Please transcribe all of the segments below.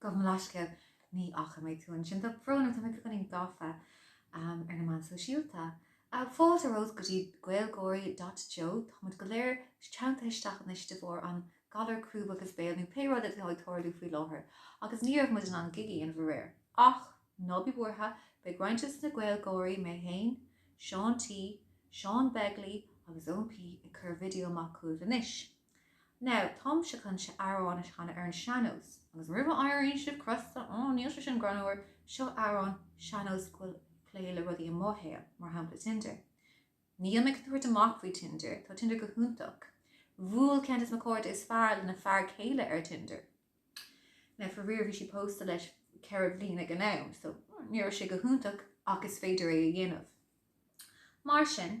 Gabh mo leithscéal, ní fhaca mé tú ansin. Tá brón orm, tá mé beagáinín gafa ar na meáin sóisialta. Fáilte romhat go dtí GaelGáirí dot jo, táimid go léir teanntaithe isteach anois de bharr an galar crúb agus béil nó pé rud atá ag tarlú faoi láthair agus ní raibh muid in ann gig a dhéanamh aréir. Ach ná bí buartha, beidh roinnt des na GaelGáirí, mé féin, Seán T, Seán Begley agus Eoin P ag cur video amach chugaibh anois. Now, táimse chun amhrán a chanadh ar an seannós, agus roimh a n-éiríonn sibh crosta, oh, níl sé sin greannmhar, seo amhrán seannóis go bhfuil plé le rudaí i mo shaol, mar shampla Tinder. Níl mé ag tabhairt amach faoi Tinder, tá Tinder go hiontach. Bhuail ceann des mo chairde is fearr lena fear céile ar Tinder. Now, faraor, bhí sí pósta leis ceithre bhliain ag an am, so ní raibh sé go hiontach, ach is féidir é a dhéanamh. Mar sin.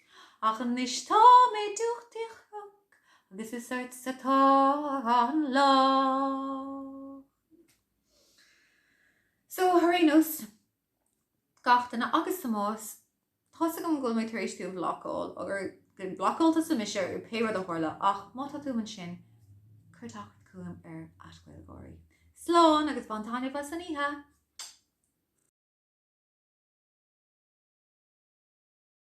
Ach anois tá mé diúltaíoch agus is ortsa atá an locht. So, ar aon nós, gach duine, agus a Thomáis, tá a fhios agam go bhfuil mé tar éis tú a bhlocáil agus gur bhlocáil tusa mise nó pé rud a tharla ach má tá tú ansin, cuir teachtaireacht chugam ar at GaelGáirí. Slán agus bain taitneamh as an oíche!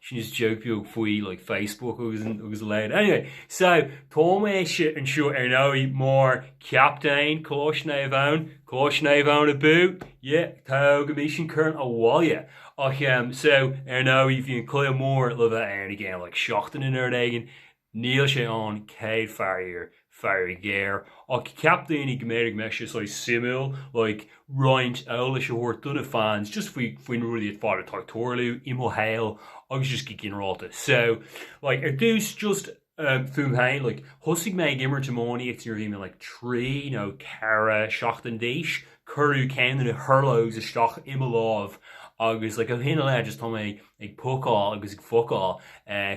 Sin is joke beag faoi like Facebook agus a leithéid. Anyway, so tá mé anseo ar ndóigh mar chaptaen Coláiste Naomh Eoin, Coláiste Naomh Eoin abú, yeah, tógaimis an corn abhaile. Ach um, so ar ndóigh bhí an cluiche mór le bheith ann againn like seachtain nó rud éigin Níl sé ceart, faraor, faraor géar, ach cheap daoine go mbeadh, mbeadh sé, saghas suimiúil, like, roinnt eolais a thabhairt do na fans just faoi, faoi na rudaí ar fad atá ag tarlú i mo shaol agus just go ginearálta. So, like, ar dtús, just um fúm féin, like, thosaigh mé ag imirt iománaíocht nuair a bhí mé like trí nó ceithre seachtain d'aois, cuireadh ceann de na hurls isteach i mo lámh agus like ó shin i leith just tá mé ag ag pocáil agus ag focáil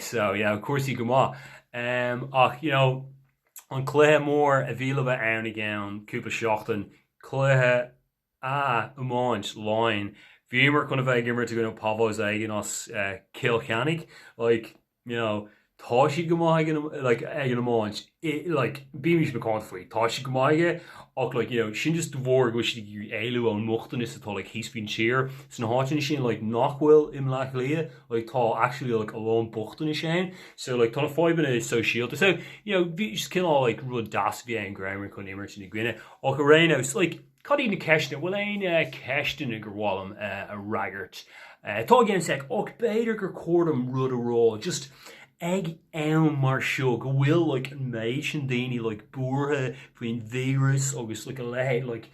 so yeah cúrsaí go maith ach you know an cluiche mór a bhí le bheith ann i gceann cúpla seachtain cluiche iomáint, Laighean bhíomar chun a bheith ag imirt i gcoinne povvos éigin as Cill Chainnigh like you know tá siad go maith ag like ag an iomáint like bímís macánta faoi tá siad go maith aige ach like you know sin just de bharr go bhfuil siad ag éalú ón mbochtanas atá like thíos faoin tír sna háiteanna sin like nach bhfuil i mBaile Átha Cliath like tá actually like a lán bochtanais ann so like tá na fadhbanna sóisialta so you know bhí just cineál like rud deas bhí ann go rabhamar chun imirt ina gcoinne ach ar aon nós like Cad iad na ceisteanna? Bhfuil aon ceisteanna gur mhaith libh a fhreagairt? Tá, i gceann sec, ach b'fhéidir gur chóir dom rud a rá just ag am mar seo go bhfuil like an méid sin daoine like buartha faoin víreas agus like a leithéid like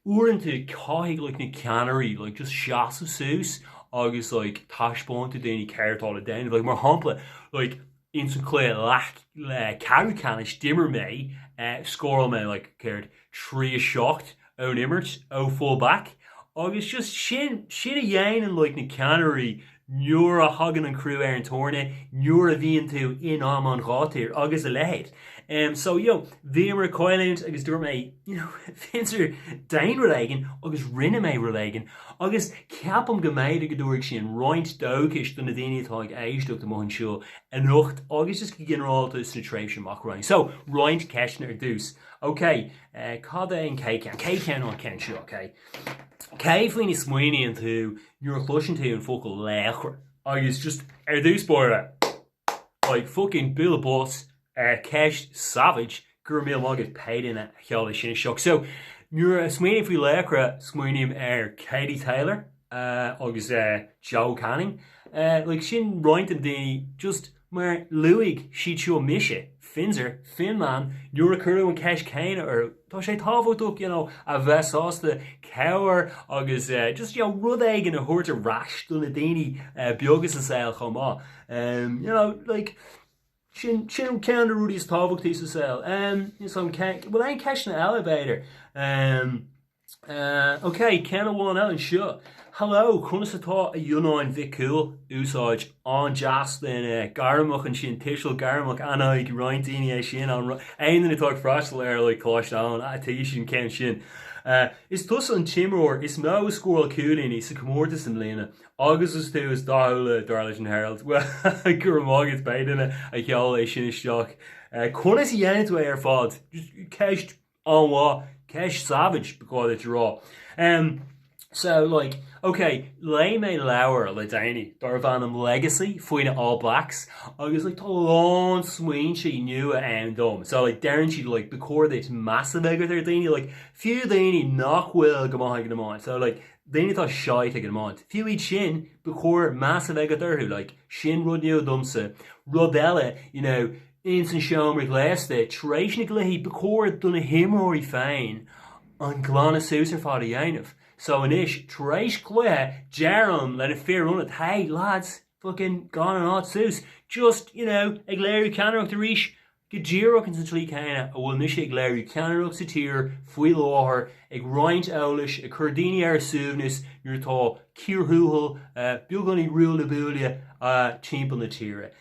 uaireanta caithfidh like na ceannairí like just seasamh suas agus like taispeáint do daoine céard atá le déanamh like mar shampla like Ins an cluiche leath ceathrú ceannais d'imir mé, scóráil mé like céard, 3-7 ón imirt ó full back agus just sin, sin a dhéanann like na ceannairí nuair a thagann an crú ar an tairne, nuair a bhíonn tú in am an ghátair agus a leithéid. So, you know, Bhíomar ag cailliúint agus dúirt mé you know Finzer déan rud éigin agus rinne mé rud éigin agus ceapaim go mb'fhéidir go dtabharfaidh sin roinnt dóchais do na daoine atá ag éisteacht amuigh anseo anocht agus just go ginearálta sa tréimhse amach romhainn. So roinnt ceisteanna ar dtús. OK, cad é an chéad cheann? Céad cheann an ceann seo, OK? Cé faoi a smaoiníonn tú nuair a chloiseann tú an focal laochra agus just ar dtús báire like fucking bualadh bos ceist savage, go raibh míle maith agat pé duine a sheol í sin isteach. So, nuair a smaoiním faoi laochra, smaoiním ar Katie Taylor agus Joe Canning. Like, sin roinnt de na daoine just mar luaigh siadsan mise Finzer, Finn man, nuair a cuireadh an ceist chéanna orthu, tá sé tábhachtach, you know, a bheith sásta cabhair agus just, you know, rud éigin a thabhairt ar ais do na daoine beaga sa saol chomh maith. Um, you know, like, sin, sin ceann de na rudaí is tábhachtaí sa saol. Um, bhfuil aon ceisteanna eile b'fhéidir? Um, OK, ceann amháin eile anseo. Hello, conas atá a Fhionnáin Mhic Cumhaill? Úsáid an-deas den ghairmeach ansin, tuiseal gairmeach anáil, roinnt daoine é sin, ach aon duine atá ag freastal ar like Coláiste Eoin tuigfidh siad an ceann sin. Is tusa an t-imreoir is mó a scóráil cúilíní sa chomórtas i mbliana agus is tú is dathúla dar leis an Herald. Bhuel, go raibh maith agat, pé duine a sheol é sin isteach. Conas a dhéanann tú é ar fad? Just ceist. oh well Kesh Savage because it's raw um so like okay lei me lower le Danny dar van am legacy foin all blacks agus like to long swing she knew it and dom so like Darren she like the core that's massive bigger there Danny like few Danny knock will go on him on so like Danny tá shy ag an mont fiú iad sin be chóir massive agat orthú like sin rudniú domsa rud eile you know Ins an seomra gléasta, tar éis na gcluichí, ba chóir do na himreoirí féin an glanadh suas ar fad a dhéanamh. So anois, tar éis cluiche, deirim le na fir ionaid, hey, lads, fuckin' glan an áit suas. Just, you know, ag léiriú ceannaireacht arís, go díreach ins an tslí céanna a bhfuil mise ag léiriú ceannaireacht sa tír faoi láthair, ag roinnt eolais, ag cur daoine ar a suaimhneas nuair atá cíor thuathail, beagáinín ruaille buaille timpeall na tíre.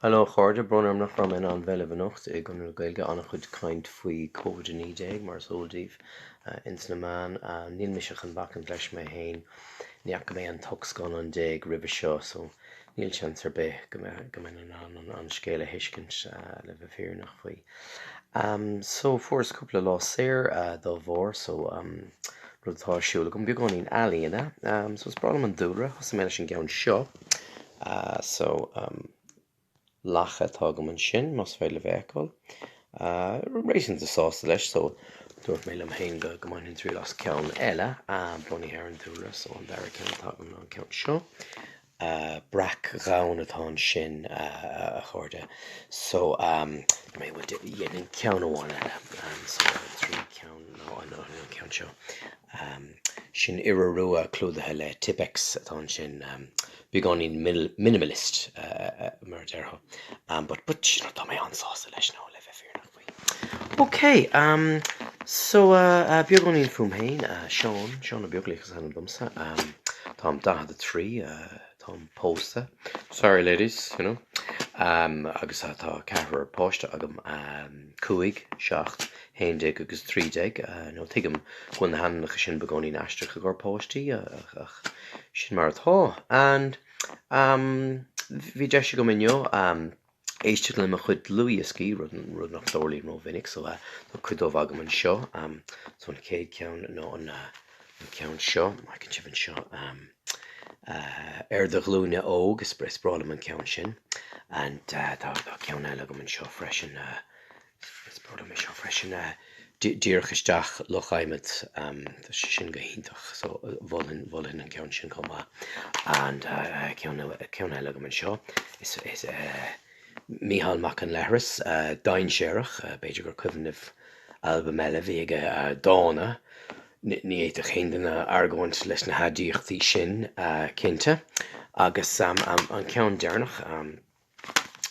Hello a chairde, brón orm nach raibh mé in ann bheith libh anocht i gConradh na Gaeilge, an-chuid caint faoi Covid-19 mar is eol daoibh ins na meáin. Níl mise chun bacaint leis mé héin, ní fhaca mé an t-ocht scannán déag roimhe seo so níl seans ar bith go mbeinn in ann an scéal a thuiscint le bheith fírinneach faoi. So fuaireas cúpla lá saor dá bharr so rud atá ar siúl agam, beagáinín ealaíona so is breá liom an dúlra, thosaigh mé leis an gceann seo. Ah, so, um, lacha atá agam ansin, más féidir libh a fheiceáil. Ah, réasúnta sásta leis, so, dúirt mé liom féin go mbainfinn triail as ceann eile, ah, bunaithe ar an dúlra, so an dara ceann atá agam ná an ceann seo. Ah, breac donn atá ansin, ah, a chairde, so, um, mheas mé go ndéanfainn ceann amháin eile, ah, so, tríú ceann, ná an ceann seo. Um, sin iora rua clúdaithe le Tippex atá ansin, um, beagáinín mil, minimalist, uh, uh, uh, mar a déarfá. Um, but, but, you know, tá mé an-sásta leis nó le bheith fírinneach faoi. OK, um, so uh, uh, beagáinín fúm héin, uh, Seán, Seán Ó Beaglaoich is ainm domsa. Um, táim 43, uh, táim pósta. Sorry ladies, you know. Um, agus atá ceathrar páiste agam um, cúig, seacht, 11 agus 13. Now tuigim go bhfuil na hainmneacha sin beagáinín aisteach i gcomhair páistí, ach sin mar atá. Bhí deis agam inniu éisteacht le mo chuid dlúthdhioscaí, rud nach dtarlaíonn rómhinic, so tá cuid díobh agam anseo. So an chéad cheann ná an ceann seo, feiceann sibh anseo, Ar do Ghlúine Óg, is breá liom an ceann sin. And tá ceann eile agam anseo freisin. Is breá liom é seo freisin, díreach isteach, Loch Adhmaid, sin go hiontach so mholfainn an ceann sin chomh maith. And ceann eile agam anseo, is Mícheál Mac an Leithreas, dainséarach, b'fhéidir gur cuimhin libh albam eile a bhí aige, Dána, ní fhéadfadh aon duine argóint leis na haidiachtaí sin cinnte. Agus an ceann deireanach,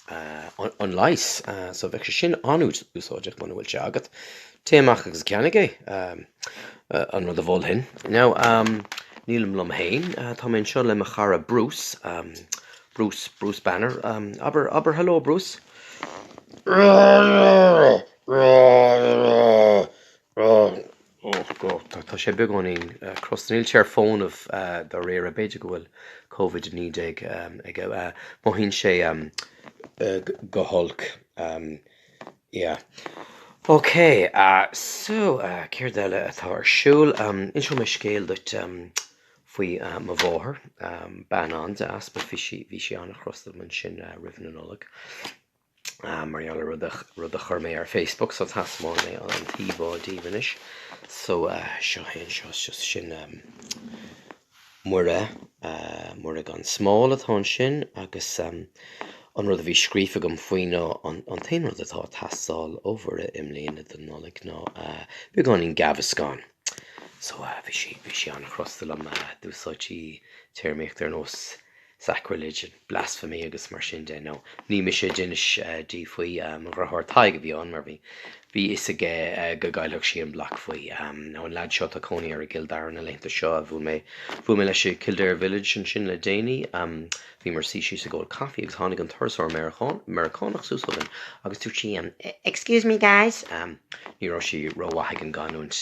an leigheas. So bheadh sé sin an-úsáideach muna bhfuil sé agat, téigh amach agus ceannaigh é, an rud a mholfainn. Now, nílim liom féin, tá mé anseo le mo chara Bruce, Bruce, Bruce Banner, abair, abair hello Bruce. Ó. Ó, go, tá, tá sé beagáinín crosta. Níl sé ar fónamh dá réir. B'fhéidir go bhfuil Covid 19 aige. Mothaíonn sé go holc. Yeah. OK, so, céard eile atá ar siúl? Inseoidh mé scéal duit faoi mo mháthair, bean an-deas, but bhí sí, bhí sí an-chrosta liom ansin roimh na Nollag. Ah, mar gheall ar rud a, rud a chuir mé ar Facebook, so taispeánfaidh mé an t-íomhá díbh anois. So, ah, seo é anseo, seo sin um, Muire, ah, Muire gan smál atá ansin agus um, an rud a bhí scríofa agam faoi ná an, an t-aon rud atá ag teastáil ó Mhuire i mbliana don Nollaig ná ah, beagáinín Gaviscon. So, ah, bhí sí, bhí sí an-chrosta liom, ah, d'úsáid sí téarmaíocht ar nós sacrilege and blasphemy agus mar sin de now ní mise a d'inis di faoi. Mo dhriotháir Tadhg a bhí ann mar bhí bhí fhios aige go gcaillfeadh sí an block faoi. Now an lead seo tá cónaí air i gCill Dara na laethanta seo a bhuail mé bhuail mé leis i Kildare Village ansin le déanaí. Bhíomar suí síos ag ól caife agus tháinig an turasóir Meiriceánach suas chugainn agus dúirt sí excuse me guys. Ní raibh sí rómhaith ag an gcanúint.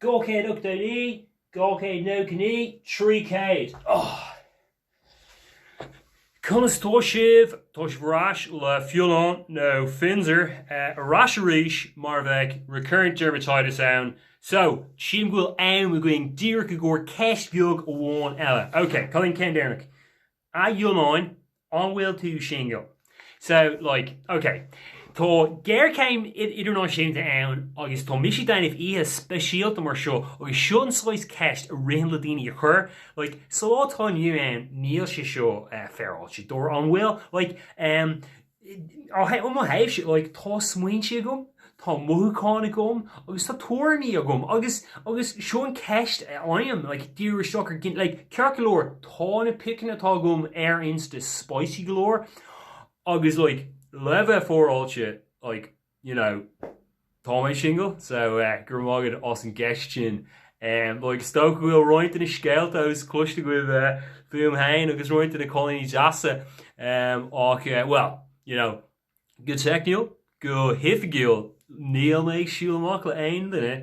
289, 299, 300. Conas tá sibh? Tá sibh ar ais le Fionnán, nó Finzer, ar ais arís mar a bheadh recurrent dermatitis ann. So, sílim go bhfuil am againn díreach i gcomhair ceist bheag amháin eile. Ok, go hálainn, ceann deireanach. A Fhionnáin, an bhfuil tú singil? So, like, ok, tá géarchéim idirnáisiúnta ann agus tá mise ag déanamh oíche speisialta mar seo agus seo an saghas ceist a ritheann le daoine a chur, like, sa lá atá inniu ann níl sé seo féaráilte, though, an bhfuil? Like, em. Ó mo thaobhse, like, tá smaointe agam, tá mothúcháin agam agus tá tuairimí agam agus agus seo an cheist a fhaighim, like, díriú isteach air sin, like. Ceart go leor, tá na piceanna atá agam ar Insta spicy go leor agus like le a bheith féaráilte, you know, tá mé singil, so go raibh maith agat as an gceist sin. Like, is dócha go bhfuil roinnt de na scéalta seo cloiste agaibh fúm féin agus roinnt de na cailíní deasa ach, well, you know, go teicniúil, go hoifigiúil, níl mé ag siúl amach le haon duine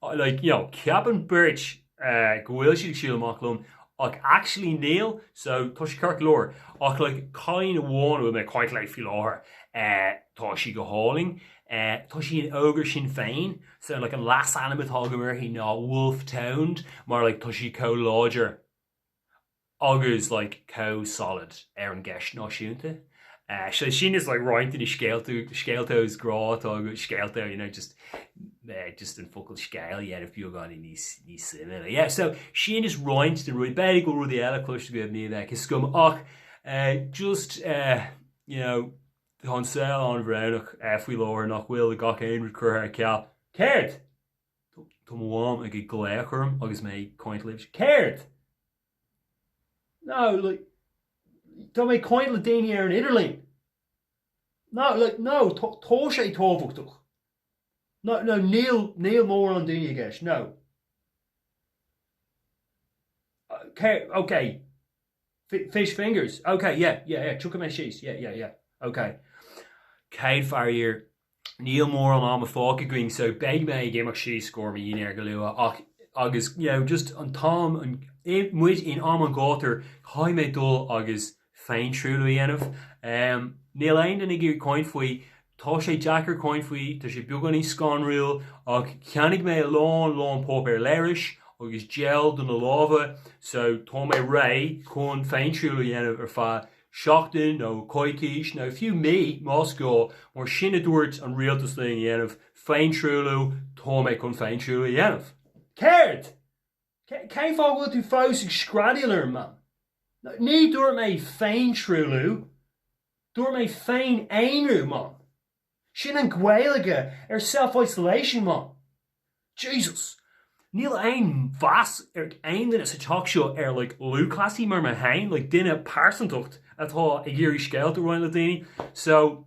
like, you know, ceapann beirt go bhfuil siad ag siúl amach liom ach actually níl so tá sé ceart go leor ach like cailín amháin a bhfuil mé ag caint léi faoi láthair eh, tá sí go hálainn eh, tá sí in Ógra Shinn Féin so like an leasainm atá agam uirthi ná Wolfe Toned mar like tá sí chomh láidir agus like chomh solid ar an gceist náisiúnta. So, sin is like roinnt de na scéalta, scéalta is grá atá agat, scéalta, you know, just, eh, just an focal scéal a dhéanamh beagáinín níos, níos suime. Like, yeah, so, sin is roinnt de na rudaí. B'fhéidir go bhfuil rudaí eile cloiste agaibh níl a fhios agam ach, eh, just, eh, you know, tá an saol an-bhrónach, eh, faoi láthair nach bhfuil, gach aon rud curtha ar ceal. Céard? Tá mo mham ag glaoch orm agus mé ag caint libhse. Céard? No, like, tá mé ag caint le daoine ar an idirlíon. No, like, no, tá sé tábhachtach. No, no, níl, níl mórán daoine i gceist. No. Céard? Okay. Fish fingers, ok, yeah, yeah, yeah, tiocfaidh mé síos, yeah, yeah, yeah, ok. Céard? Faraor, níl mórán ama fágtha againn, so beidh mé ag imeacht síos i gcomhair mo dhinnéir go luath ach, agus, you know, just an t-am, an, muid in am an ghátair, caithfidh mé dul agus féintruailliú a dhéanamh. Níl aon duine ag iarraidh caint faoi, Tá sé deacair caint faoi, tá sé beagáinín scanrúil, ach cheannaigh mé a lán lán páipéar leithris agus gel do na lámha so tá mé réidh chun féintruailliú a dhéanamh ar feadh seachtain nó coicís nó fiú mí más gá, mar sin a dúirt an rialtas linn a dhéanamh, féintruailliú, tá mé chun féintruailliú a dhéanamh. Céard? Cén fáth go bhfuil tú fós ag screadaíl orm, Mam? Ní dúirt mé féintruailliú. Dúirt mé féinaonrú, Mam. Sin an Ghaeilge, ar self-isolation, Mam. Jesus! Níl aon mheas ag aon duine sa teach seo ar like lúthchleasaí mar mé féin, like duine pearsantacht atá ag iarraidh scéalta a roinnt le daoine. So,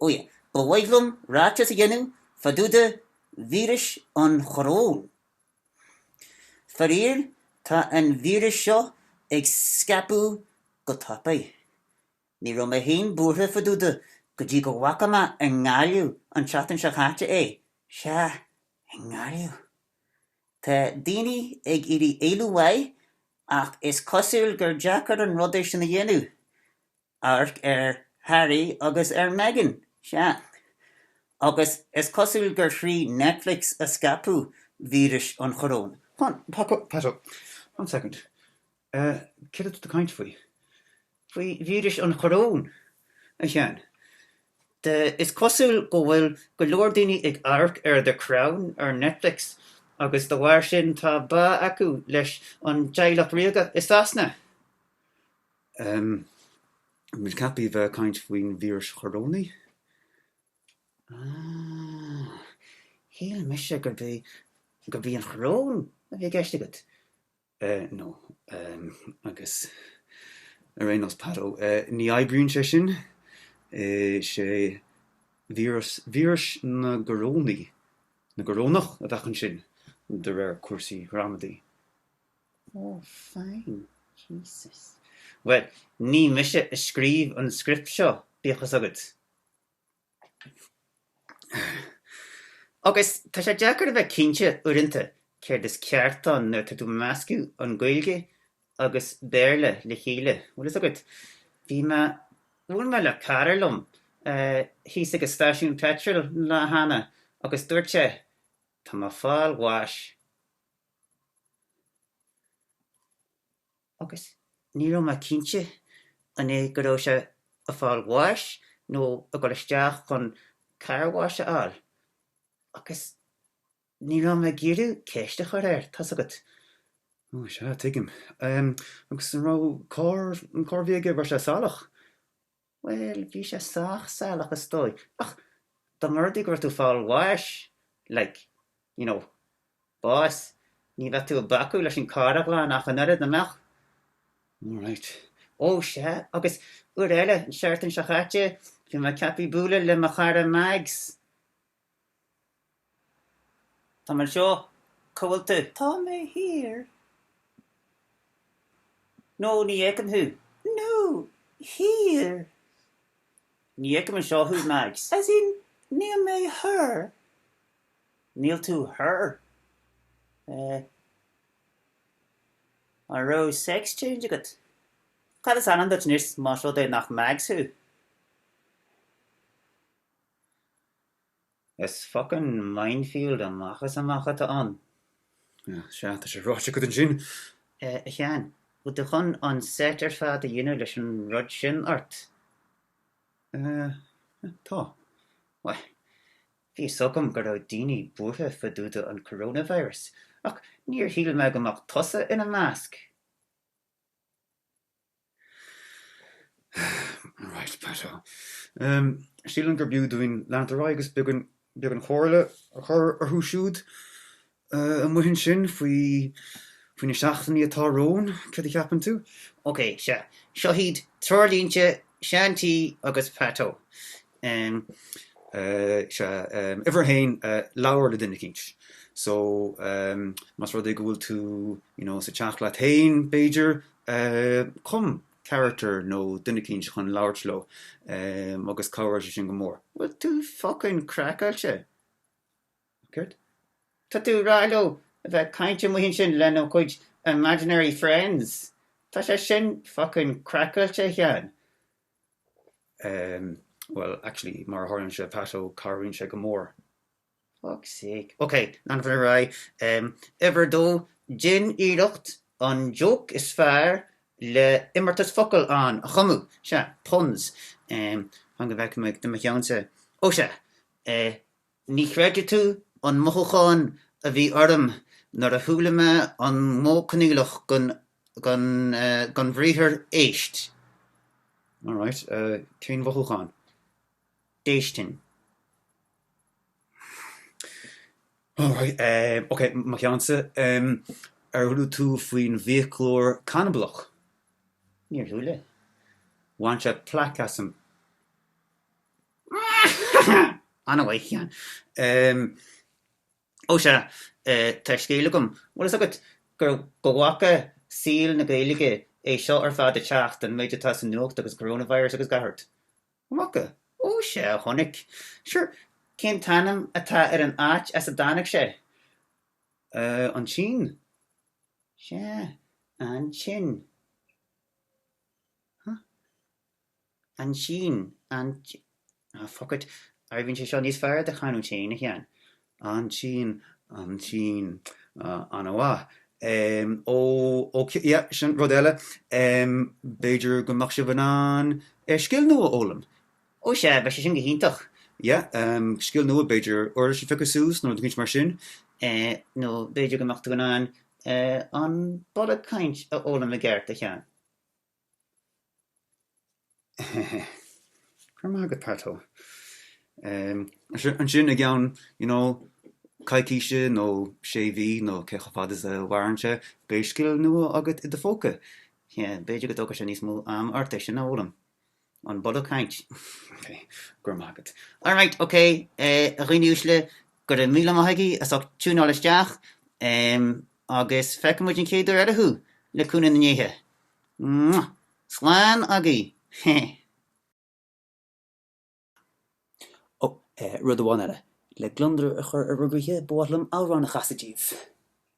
Ó yeah. Ba mhaith liom ráiteas a dhéanamh fadúda víris an choróin. Faraor, tá an víreas seo ag scaipeadh go tapaidh. Ní raibh mé féin buartha fadúda go dtí go bhfaca mé i nGaillimh an tseachtain seo chaite é, sea, i nGaillimh. Tá daoine ag iarraidh éalú uaidhe ach is cosúil gur deacair an rud é sin a dhéanamh. amharc ar Harry agus ar Meghan, sea, agus is cosúil gur thrí Netflix a scaipeadh víris an choróin. Pato, one second. Céard tá tú ag caint faoi? Faoi víris an choróin, a Sheáin. Is cosúil go bhfuil go leor daoine ag amharc ar The Crown ar Netflix agus dá bharr sin tá bá acu leis an Teaghlach Ríoga i Sasana. Tá muid ceaptha a bheith ag caint faoin víreas chorónaigh? Aah. Shíl mise gurb é, gurb í an choróin a bhí i gceist agat. Eh, no. Em, agus ar aon nós, Pato, eh, ní oibríonn sé sin. Eh, sé víreas, víreas na gcorónaí, na gcorónach a bheadh ansin, de réir cúrsaí ghramadaí. Ó, fine, Jesus. Bhuel, ní mise a scríobh an script seo, bíodh fhios agat. Agus tá sé deacair a bheith cinnte, uaireanta, céard is ceart ann nuair atá tú ag meascadh an Gaeilge agus Béarla le chéile, bhfuil fhios agat. Bhí mé, bhuail mé le cara liom thíos ag an stáisiún peitril lá cheana agus dúirt sé, tá mé fáil bháis. agus ní raibh mé cinnte an é go raibh sé ag fáil bháis nó ag dul isteach chun car wash a fháil agus ní raibh mé ag iarraidh ceist a chur air, tá's agat? Ó, sea, tuigim. Agus an raibh an carr a bhí aige, raibh sé salach? Bhuel, bhí sé sách salach is dóigh, ach dá mba rud é go raibh tú ag fáil bháis, like, you know, bás, ní bheadh tú ag bacadh leis an carr a ghlanadh ach an oiread, an mbeadh? Alright. Ó, sea, agus uair eile, an seachtain seo chaite, bhí mé ceaptha bualadh le mo chara Mags. Tá mé anseo. Cá bhfuil tú? Tá mé thiar. No, ní fheicim thú. No, here. Ní fheicim anseo thú, Mags. As in, níl mé thoir. Níl tú thoir. Eh. An raibh sex change agat? Cad is ainm duit anois más rud é nach Mags thú? Is fuckin' minefield amach is amach atá ann. Ach sea, tá sé ráite agat ansin. Eh, a Sheáin, bhfuil tú chun an seit ar fad a dhéanamh leis an rud sin ort? Eh, tá. Bhuel, bhí fhios agam go raibh daoine buartha fá dtaobh den coronavirus, ach níor shíl mé go mbeadh tusa ina measc! Sílim gur b'fhiú dúinn leanacht ar aghaidh agus beagán comhairle a chur orthu siúd amuigh ansin faoi na seachtainí atá romhainn, cad a cheapann tú? OK, sea, seo hiad treoirlínte Seán T agus Pato. M, Sea, uimhir a haon, labhair le duine eicínt. So, más rud é go bhfuil tú, you know, sa teach leat féin, b'fhéidir, chum character nó duine eicínt chun labhairt leo agus cabhróidh sé sin go mór. Bhfuil tú fucking craiceáilte? Céard? Tá tú ag rá leo a bheith ag caint amuigh ansin lena chuid imaginary friends. Tá sé sin fucking craiceáilte, a Sheáin. em well actually mar a tharlaíonn sé Pato cabhraíonn sé go mór fuck's sake ok leanfaidh muid ar aghaidh em uimhir a dó déan iarracht an joke is fearr le imeartas focal ann a chumadh sea puns em fan go bhfeicfidh mé mo cheannsa ó sea eh Ní chreidfidh tú an mothúchán a bhí orm nuair a chuala mé an Modh Coinníollach den bhriathar éist. Alright, cén mothúchán? D'éistfinn. Alright, ok, mo cheannsa. Ar chuala tú faoin bhfiaclóir canablach? Níor chuala. Bhain sé plaic asam. An-mhaith, a Sheáin. Ó sea, tá scéal agam. Bhfuil fhios agat gur go bhfaca saol na Gaeilge é seo ar fad ag teacht, an méid atá sa nuacht agus coronavirus agus gach rud? An bhfaca? Ó sea, chonaic. Sure, cén t-ainm atá ar an áit as a dtáinig sé? An tSín. Sea, an tSín. Huh? an tSín, an ah, fuck it, oibríonn sé seo níos fearr i do chanúint féin, a Sheáin. an tSín, an tSín, ah, an-mhaith. Em, ó, OK, yeah, sin rud eile, em, b'fhéidir go mbeadh sibh in ann, eh, scil nua a fhoghlaim. Ó, sea, bheadh sé sin go hiontach. Yeah, em, scil nua, b'fhéidir uirlis a phiocadh suas nó rud eicínt mar sin. Eh, nó b'fhéidir go mbeadh tú in ann, eh, an boladh caint a fhoghlaim i gceart, a Sheáin. Ansin, i gceann, you know, coicíse nó sé mhí nó cé chomh fada is a mhaireann sé, beidh scil nua agat i do phóca. B'fhéidir go dtógfaidh sé níos mó ama ort é sin a fhoghlaim. An bolach caint. Ok, go raibh maith agat. All right, ok, eh, a dhaoine uaisle, go raibh míle maith agaí as ucht tiúnáil isteach, em, agus feicfidh muid an chéad uair eile sibh, le cúnamh na ndéithe. Mwah! Slán agaí! Heh. Ó, eh, rud amháin eile. Le gliondar a chur ar bhur gcroíthe, ba mhaith liom amhrán a chasadh díbh.